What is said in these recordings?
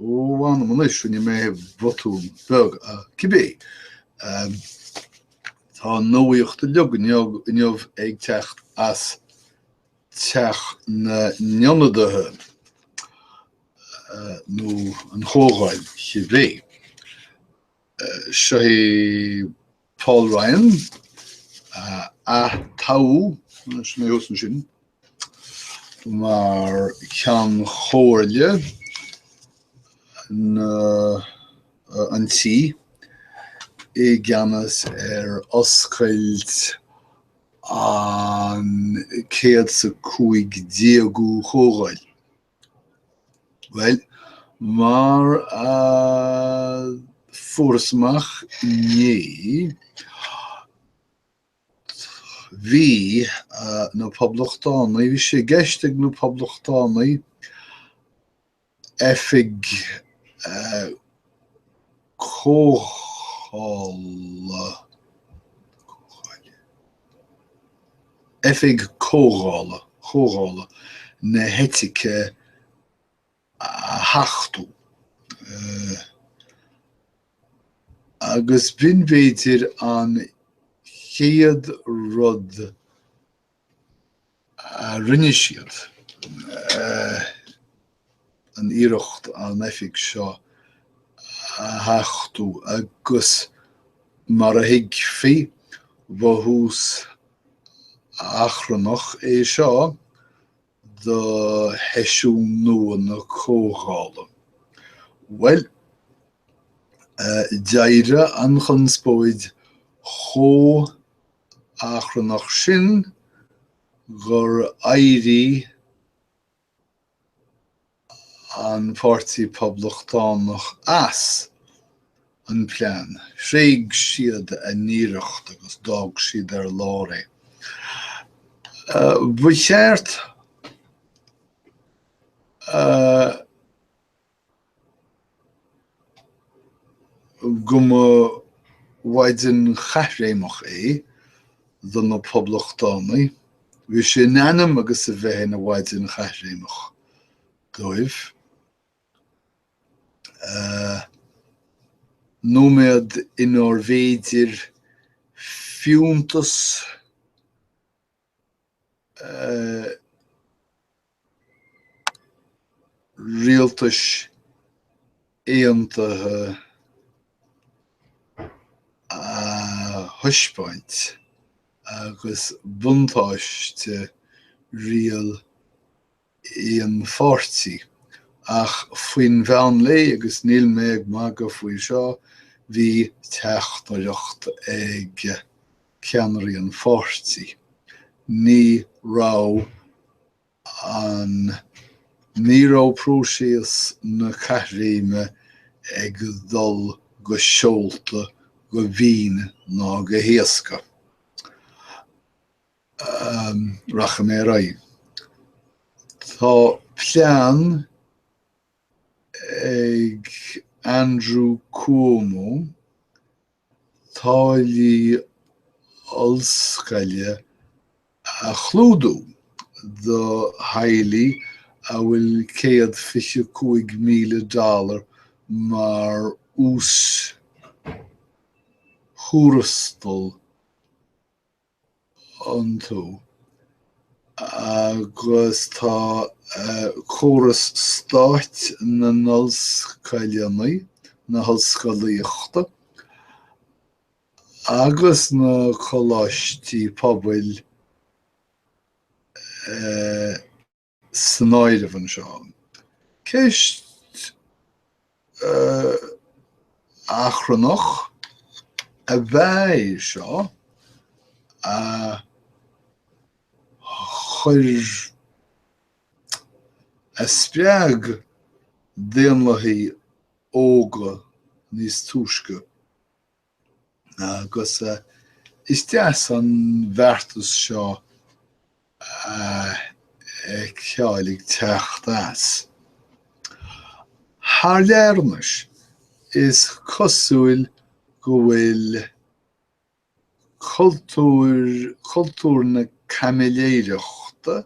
Ó, mh'anam anois, rinne mé botún beag. Cibé, tá nuacht uilig inniu ag teacht as Teach na nIonadaithe, nó an Chomhdháil, cibé. Seo é Paul Ryan, a ath-toghadh, sin é thuas ansin, mar Cheann Comhairle an Tí i gceannas ar oscailt an 115ú Chomhdháil. Bhuel, mar a fuarthas amach inné, bhí na Poblachtánaigh, bhí sé i gceist ag na Poblachtánaigh oifig Comhdhála, Oifig Comhdhála, Chomhdhála na hEitice a thachtú, agus b'shin b'fhéidir an chéad rud a rinne siad an iarracht an oifig seo a thachtú agus, mar a thuigfí, ba thús achrannach é seo do sheisiún nua na comhdhála. Bhuel, d'éirigh an chonspóid chomh achrannach sin gur éirigh an Páirtí Poblachtánach as an bplean. Thréig siad a n-iarracht agus d'fhág siad ar lár é. Ba cheart go mba mhaidin chaithréimeach é do na Poblachtánaigh, bhí sé in ainm agus a bheith ina mhaidin chaithréimeach dóibh. Nóiméad inarbh fhéidir fiúntas Rialtais Aontaithe a thaispeáint agus buntáiste riail i an pháirtí. Ach faoin mheán lae, agus níl mé ag magadh faoi seo, bhí teachtaireacht ag ceannairí an pháirtí, ní raibh an, ní raibh próiseas na caithréime ag dul go seolta, go mín ná go héasca. rachaidh mé ar aghaidh. Tá plean ag Andrew Cuomo táillí ollscoile a chlúdú do theaghlaigh a bhfuil céad fiche cúig míle dollar mar uas-thuarastal iontu agus tá córas stáit na n-ollscoileanna, na hollscolaíochta agus na coláistí pobail e. san áireamh anseo. Ceist achrannach ab ea é seo a chuir, a spreag daonlathaigh óga níos túisce. Agus is deas an beartas seo a fheiceáil ag teacht as. Thar lear anois, is cosúil go bhfuil cultúr na caimiléireachta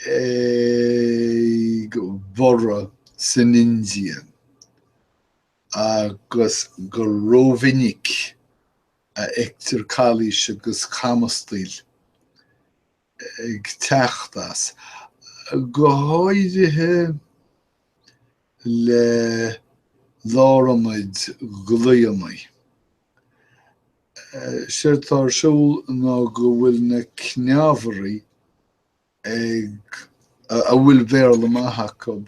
ag borradh san India agus gur rómhinic a fheictear calaois agus camastaíl ag teacht as, go háirithe le lárionaid glaonna. Séard atá ar siúl ná go bhfuil na cneámhairí ag, a bhfuil Béarla maith acab,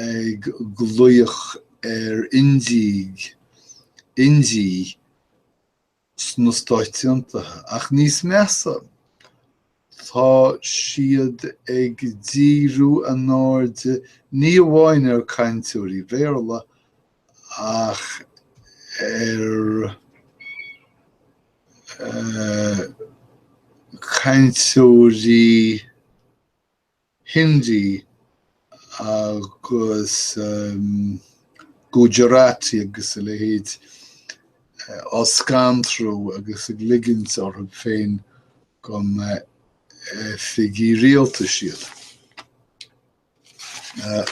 ag glaoch ar Indiaigh, Indiaigh sna Stáit Aontaithe, ach níos measa, Tá siad ag díriú a n-airde ní amháin ar chainteoirí Béarla ach ar chainteoirí Hindi agus Gujarati agus a leithéid á scantrú agus ag ligint orthu féin go mba oifigigh rialtais iad.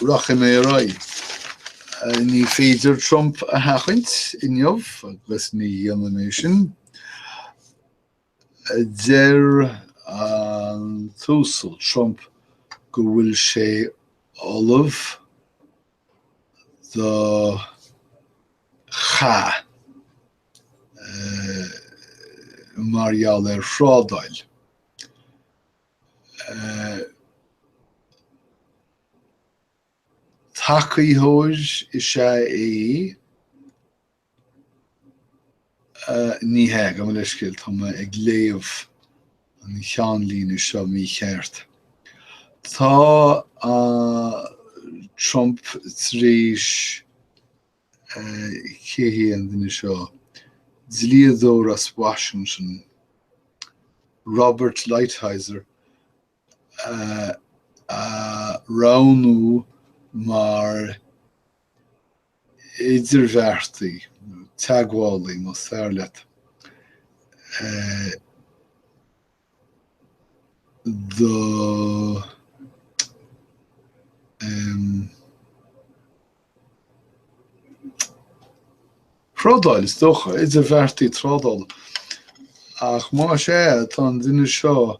Rachaidh mé ar aghaidh. Ní féidir Trump a sheachaint inniu agus ní dhéanfaidh mé sin. Deir an tUasal Trump go bhfuil sé ullamh do chath mar gheall ar thrádáil. Tacaitheoir is ea é Ní hea, gabh mo leithscéal, tá mé ag léamh an cheannlíne seo mícheart. Tá Trump tar éis, cé hé an duine seo? dlíodóir as Washington, Robert Lighthizer, a roghnú mar idirbheartaí, nó teagmhálaí más fearr leat, do thrádáil, is dócha, idirbheartaí trádála. Ach más ea, tá an duine seo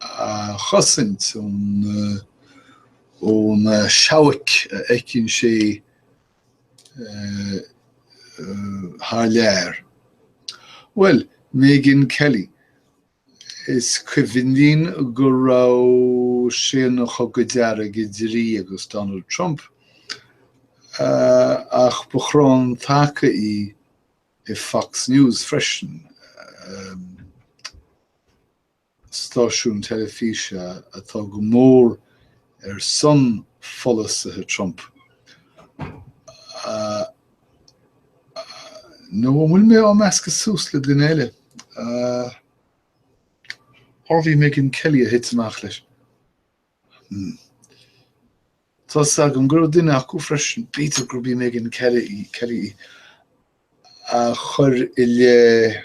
a chosaint ó na seabhaic a fheiceann sé thar lear. Well, Megyn Kelly, is cuimhin linn go raibh sé ina chogadh dearg idir í agus Donald Trump, ach ba chrann taca í i Fox News freisin. stáisiún teilifíse atá go mór ar son pholasaithe Trump, nó an bhfuil mé á meascadh suas le duine eile? Arbh í Megyn Kelly a thit amach leis. Hmm. Tá 'fhios agam go raibh duine acu freisin, b'fhéidir gurb í Megyn Kelly í, a chuir i leith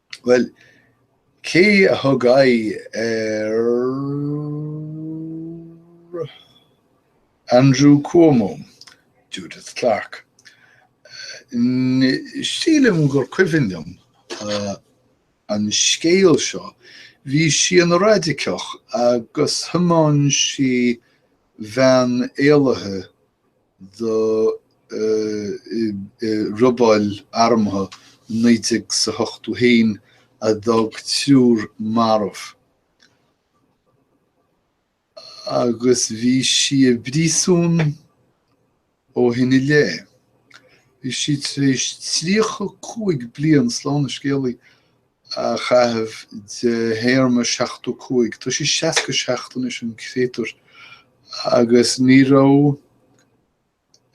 Bhuel, cé a thug aghaidh ar Andrew Cuomo? Judith Clark. Sílim gur cuimhin liom an scéal seo, bhí sí ina raidiceach agus thiomáin sí veain éalaithe do robáil armtha i naoi déag 's a hochtú haon a d'fhág triúr marbh agus bhí sí i bpríosún ó shin i leith. Bhí sí tar éis tríocha cúig bliain, slán an scéalaí, a chaitheamh de théarma 75. Tá sí 67 anois, an créatúr, agus ní raibh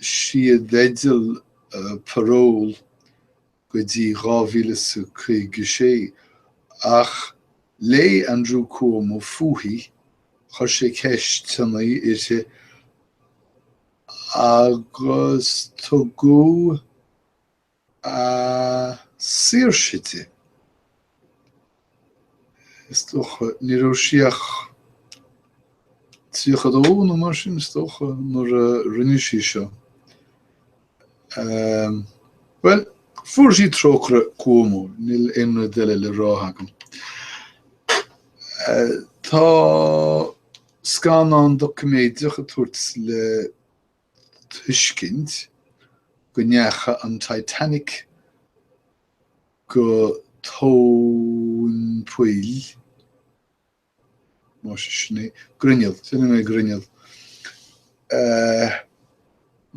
sí i dteideal parole go dtí 2056. Ach léigh Andrew Cuomo fúithi, chuir sé ceisteanna uirthi agus tugadh a saoirse di. Is dócha, ní raibh sí ach tríocha a dó nó mar sin, is dócha, nuair a rinne sí seo. Bhuel, fuair sí trócaire Cuomo, níl aon rud eile le rá agam. Tá scannán doiciméideach ag tabhairt le tuiscint go ndeacha an Titanic go tóin poill, más é sin é, grinneall, déanfaidh mé grinneall,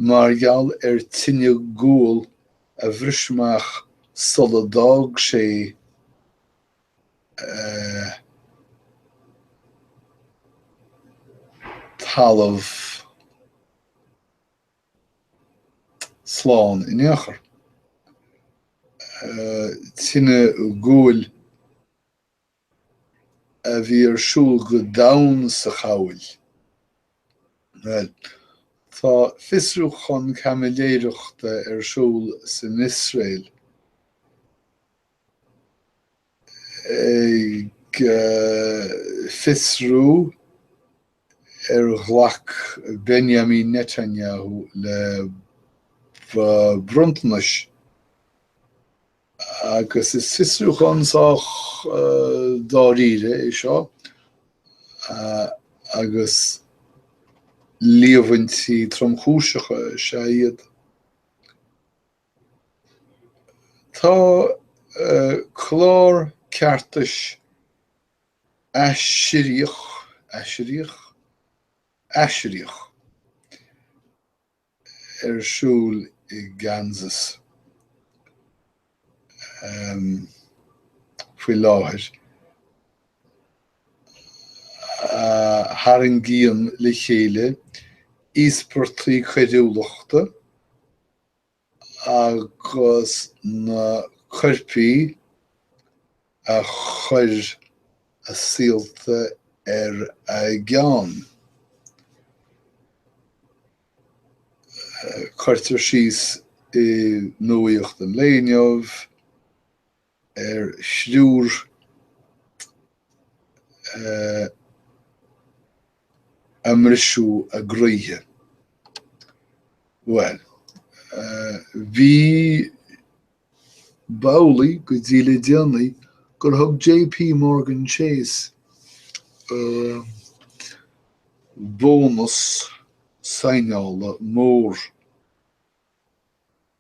mar gheall ar tine guail a bhris amach sula d'fhág sé talamh slán in aon chor. Tine ghuail a bhí ar siúl go domhain sa chabhail. Bhuel, tá fiosrúchán caimiléireachta ar siúl san Iosrael. ag fiosrú ar ghlac Benjamin Netanyahu le bronntanais agus is fiosrúchán sách dáiríre é seo agus líomhaintí tromchúiseacha is ea iad. Tá clár ceartais aisiríoch, aisiríoch? aisiríoch? ar siúl i Kansas faoi láthair a tharraingíonn le chéile íospartaigh coiriúlachta agus na coirpigh a chuir a saolta ar a gceann. Cuirtear síos i nuaíocht an lae inniu, ar thriúr ar briseadh a gcroíthe. Bhuel, bhí, B'amhlaidh go dtí le déanaí gur thug JP Morgan Chase bónas sínéála mór.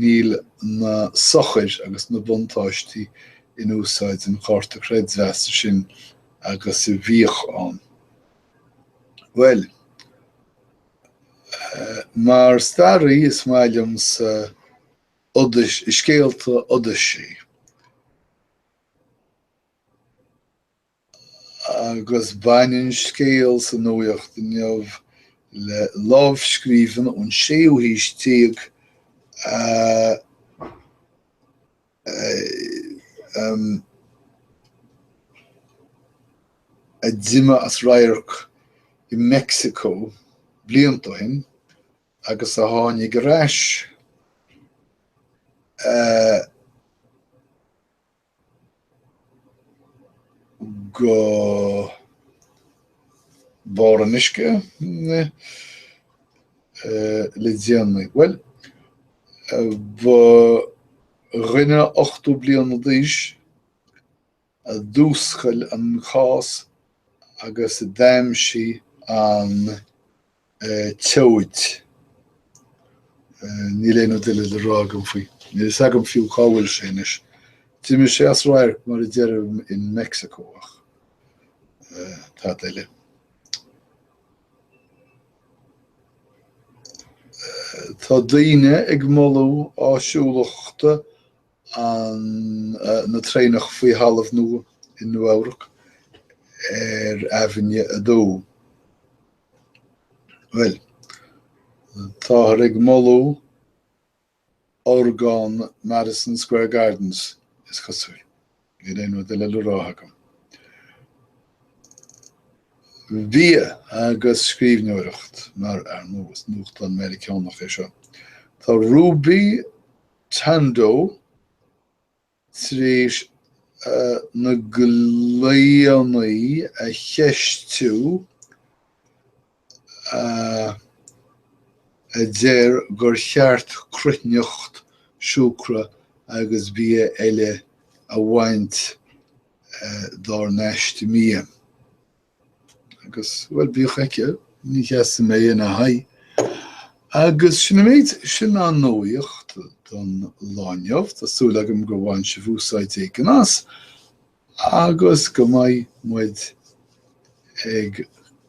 Níl na sochair agus na buntáistí in úsáid an chárta creidmheasa sin agus a bhíodh ann. Bhuel. Mar staraí is maith liomsa scéalta Odyssey. Agus baineann scéal sa nuaíocht inniu le lámhscríbhinn ón séú haois déag a d'imigh as radharc i Mexico blianta ó shin agus a tháinig ar ais go barr an uisce le déanaí. Bhuel, ba dhuine ochtó bliana d'aois a d'fhuascail an cás agus a d'aimsigh an tseoid. Níl aon rud eile le rá agam faoi. Níl a fhios agam fiú cá bhfuil sé anois. D'imigh sé as radharc mar a deirim in Mexico ach tada eile. Tá daoine ag moladh áisiúlacht na traenach faoi thalamh nua i Nua Eabhrac ar Aibhinne a Dó. Bhuel, táthar ag moladh orgán Madison Square Gardens, is cosúil. Níl aon rud eile le rá agam. Bia agus scríbhneoireacht, mar ar ndóigh, is nuachtán Meiriceánach é seo. Tá Ruby Tandoh. tar éis na glaonna a cheistiú, a deir gur cheart cruithneacht, siúcra agus bia eile a bhaint dár n-aiste bia. Agus, bhuel, bíodh aici, ní sheasfaidh mé ina haghaidh. Agus sin an méid. Sin an nuaíocht don lá inniu. Tá súil agam gur bhain sibh úsáid éigin as agus go mbeidh muid ag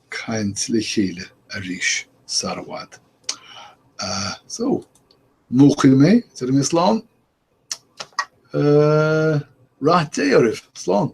caint le chéile arís sara bhfad. So, múchfaidh mé, déarfaidh mé slán. Rath Dé oraibh. Slán.